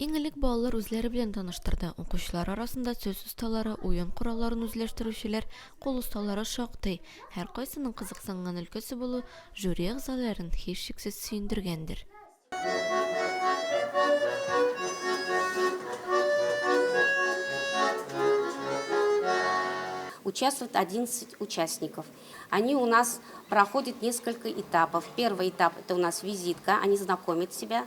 Иң элек балалар үзләре белән таныштырды. Укучылар арасында сүз осталары, уен коралларын үзләштерүчеләр, кул осталары шактый. Һәркайсының кызыксынган өлкәсе булу жюри әгъзаларын, һичшиксез, сөендергәндер. Участвуют 11 участников. Они у нас проходят несколько этапов. Первый этап это у нас визитка, они знакомят себя.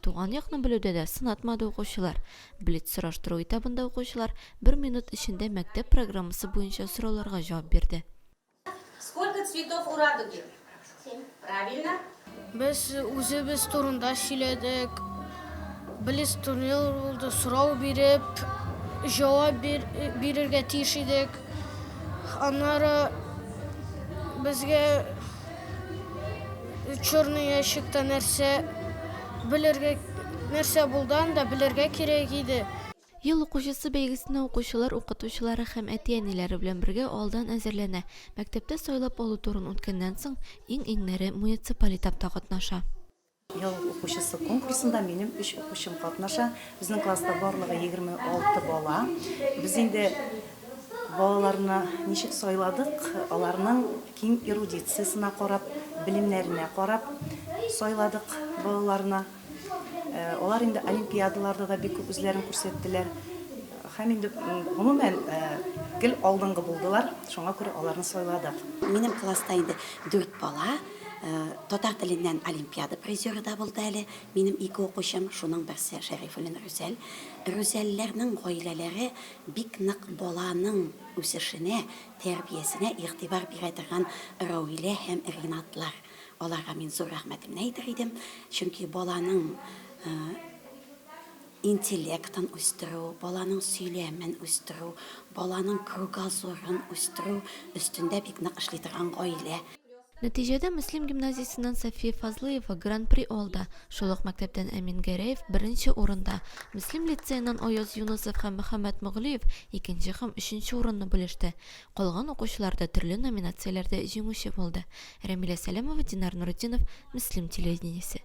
Туган якны белүдә дә сынатмады укучылар. Блиц-сораштыру этабында укучылар бер минут эчендә мәктәп программасы буенча сорауларга җавап бирде. Сколько цветов у радуги? Семь. Правильно. Без үзебез турында сөйләдек. Блиц-турнир булды, сорау биреп, җавап бирергә тиеш идек. Аннары безгә. Черный ящикта нәрсә белергә нәрсә булдан да белергә кирәк иде. Ел укучысы бәйгесенә укучылар, укытучылары һәм әти-әниләре белән бергә алдан әзерләнә. Мәктәптә сайлап алу турын үткәннән соң, иң-иңнәре муниципаль этапта катнаша. Ел укучысы конкурсында минем өч укучым катнаша. Безнең класста барлыгы 26 бала. Без инде балаларны ничек сайладык, аларның киң эрудициясенә карап, белемнәренә карап сайладык балаларны. Алар инде олимпиадаларда да бик күп үзләрен күрсәттеләр. Һәм инде, гомумән, гел алдынгы булдылар, шуңа күрә аларны сайладык. Минем класста инде дүрт бала. Татар теленнән олимпиада призеры да булды әле минем ике укучым, шуның берсе Шәрифуллин Рүзәл. Рүзәлләрнең гаиләләре бик нык баланың үсешенә, тәрбиясенә игътибар бирә торган Раүилә һәм Ринатлар. Аларга мин зур рәхмәтемне әйтер идем, чөнки баланың интеллектын үстерү, баланың сөйләмен үстерү, баланың кругозорын үстерү өстендә бик нык эшли торган гаилә. Нәтиҗәдә Мөслим гимназиясеннән Сафия Фазлыева Гран-при алды, шул ук мәктәптән Әмин Гәрәев беренче урында, Мөслим лицееннан Аяз Юнысов һәм Мөхәммәт Моглиев икенче һәм өченче урынны бүлеште. Калган укучылар да төрле номинацияләрдә җиңүче булды. Рәмилә Сәләмова, Динар Нуретдинов, Мөслим телевидениесе.